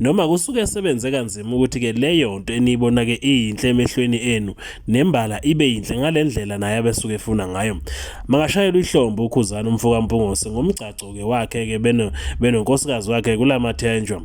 Noma kusuke sebenze kanzima ukuthi ke leyo nto eniyibona ke iyinhle emehlweni enu nembala ibe yinhle ngalendlela naye abesuke efuna ngayo. Makashayelwa ihlombo ukhuzana umfoka Mpungose ngomgcagco ke wakhe ke beno benonkosikazi wakhe kulamathenjwa.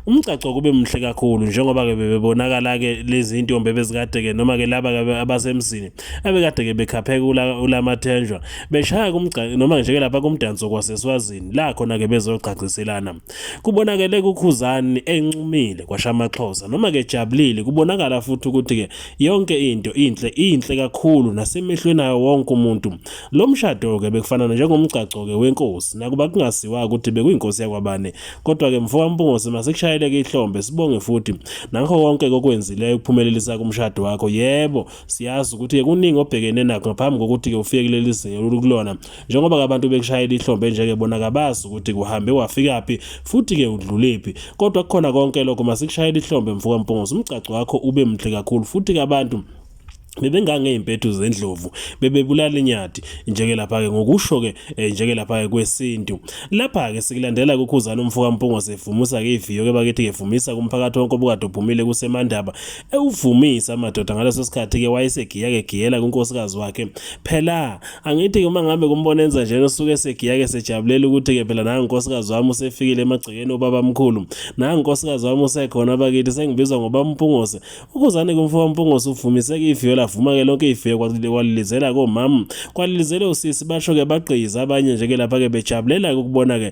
Umgcagco kube mhle kakhulu njengoba ke bebebonakala ke lezi ntombi ebezikade ke noma ke laba abasemzini abekade ke bekhapheka ulamathenjwa beshaya kumgcagco noma nje ke lapha kumdanso kwaseswazini la khona ke bezogqagqiselana. Kubonakele kuKhuzani enxumile kwasha amaXhosa noma ke jabulile kubonakala futhi ukuthi ke yonke into inhle inhle kakhulu nasemehlweni ayo wonke umuntu. Lo mshado ke bekufanana njengomgcagco ke wenkosi nakuba kungasiwa ukuthi bekuyinkosi yakwabane kodwa ke mfoka Mpungose masekushayeleke ihlombe sibonge futhi nakho konke kokwenzileyo ukuphumelelisa kumshado wakho yebo siyazi ukuthi-ke kuningi obhekene nakho ngaphambi kokuthi-ke ufike kuleli zinga olukulona njengoba-ke abantu bekushayela ihlombe nje-ke bona kabazi ukuthi kuhambe wafikaphi futhi-ke udlulephi kodwa kukhona konke lokho masikushayela ihlombe mfuka mpunguzi umgcaco wakho ube mhle kakhulu futhi-ke abantu bebengangey'mpethu zendlovu bebebulala inyati njeke lapha-ke ngokusho-ke eh, njeke lapha-ke kwesintu lapha-ke sikulandela kukhuzana umfoka mpungo sevumisa-ke iviyo-ke bakithi-ke vumisa kumphakathi wonke obukade uphumile kusemandaba ewuvumisa amadoda ngaleso sikhathi-ke wayesegiya-ke giyela kunkosikazi wakhe phela angithi-ke uma ngabe kumbona enza njena usuke esegiya-ke sejabulela ukuthi-ke phela nangu nkosikazi wami usefikile emagcekeni ubabamkhulu nangu nkosikazi wami usekhona bakithi sengibizwa ngobamphungose ukuzane kumfo wampungose uvumiseke iviyo lavuma-ke lonke iviyo kwalilizela komama kwalilizele usisi basho-ke bagqiyiza abanye nje-ke lapha-ke bejabulela-ke ukubona-ke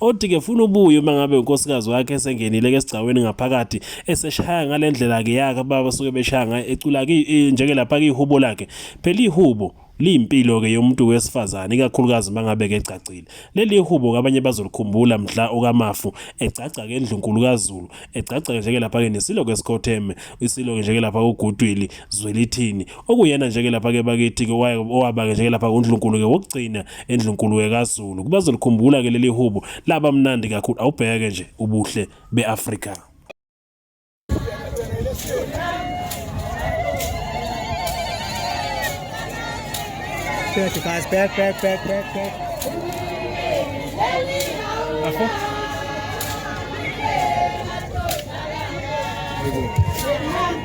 Odi ke funa ubuye uma ngabe unkosikazi wakhe esengenile ke sigcaweni ngaphakathi eseshaya ngalendlela ke yaka baba suke beshaya ngaye ecula ke e, njeke lapha ke ihubo lakhe phela ihubo liyimpilo ke yomuntu wesifazane ikakhulukazi mangabe ke egcagcile leli ihubo kabanye bazolikhumbula mhla okamafu egcagca ke endlunkulu kaZulu egcagca nje ke lapha ke nesilo ke sikhotheme isilo nje ke lapha uGudwili Zwelithini okuyena nje ke lapha ke bakithi ke owaba ke nje lapha uNdlunkulu ke wokugcina eNdlunkulu ke kaZulu kubazolikhumbula ke leli hubo laba mnandi kakhulu awubheke nje ubuhle beAfrika Back, guys, back, back, back, back, back. Afo? Thank you.